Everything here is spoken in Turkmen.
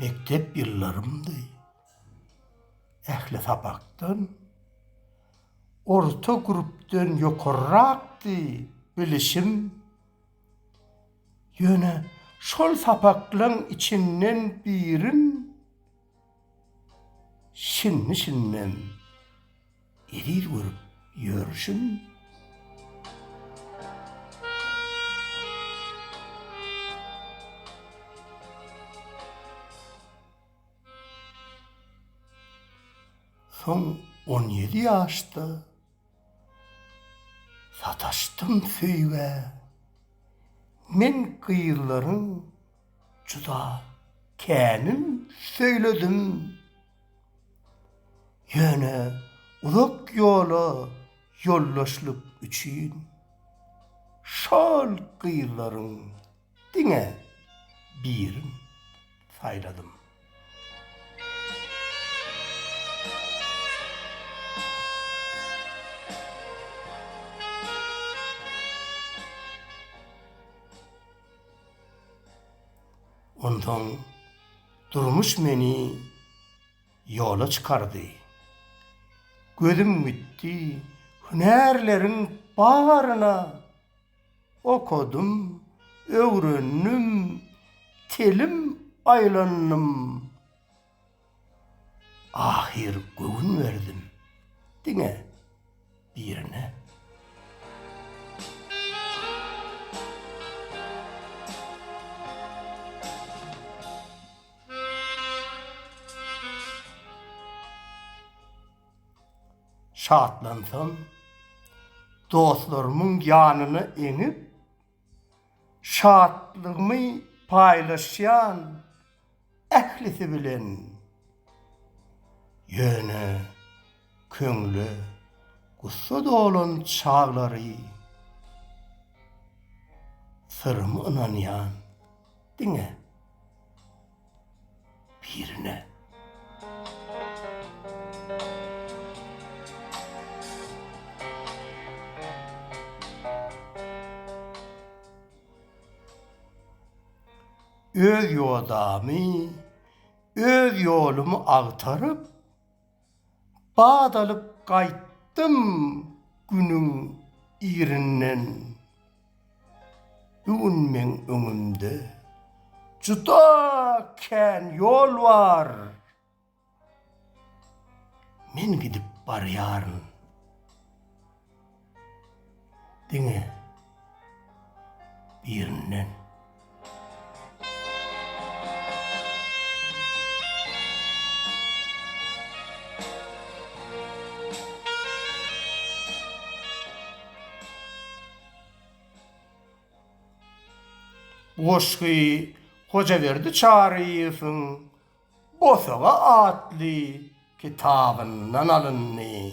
Mekdep ýyllarymdy. Ähli sapakdan orta grupdan ýokarrakdy bilişim. Ýöne şol sapaklaň içinden birin şindi-şindem eziz görüp ýörşüm. Soň on ýedi ýaşda. Sataşdym söýgä men gyzlaryň juda känin söýledim. Ýöne uzak ýola ýoldaşlyk üçin şol gyzlaryň. Diňe birin saýladym. Onsoň durmuş meni ýola çykardy. Gözüm gitdi, hünärleriň baryna. Okadym, öwrendim, telim aýlandym. Ahyr göwün berdim diňe birine. Şatlansam, dostlarymyň ýanyna eňip, şatlygymy paýlaşýan ählisi bilen. Ýöne köňle gussa dolan çaglary syrymy ynanýan diňe. birine. Öz ýodamy, öz ýolumy agtaryp. Bat alyp gaýtdym günüň irinden. Bu gün meň öňümde juda kän ýol bar. Men gidip barýaryn. Diňe birinden. Bu goşgy Hojaberdi Çaryýewiň Bosaga atly kitabyndan alyndy.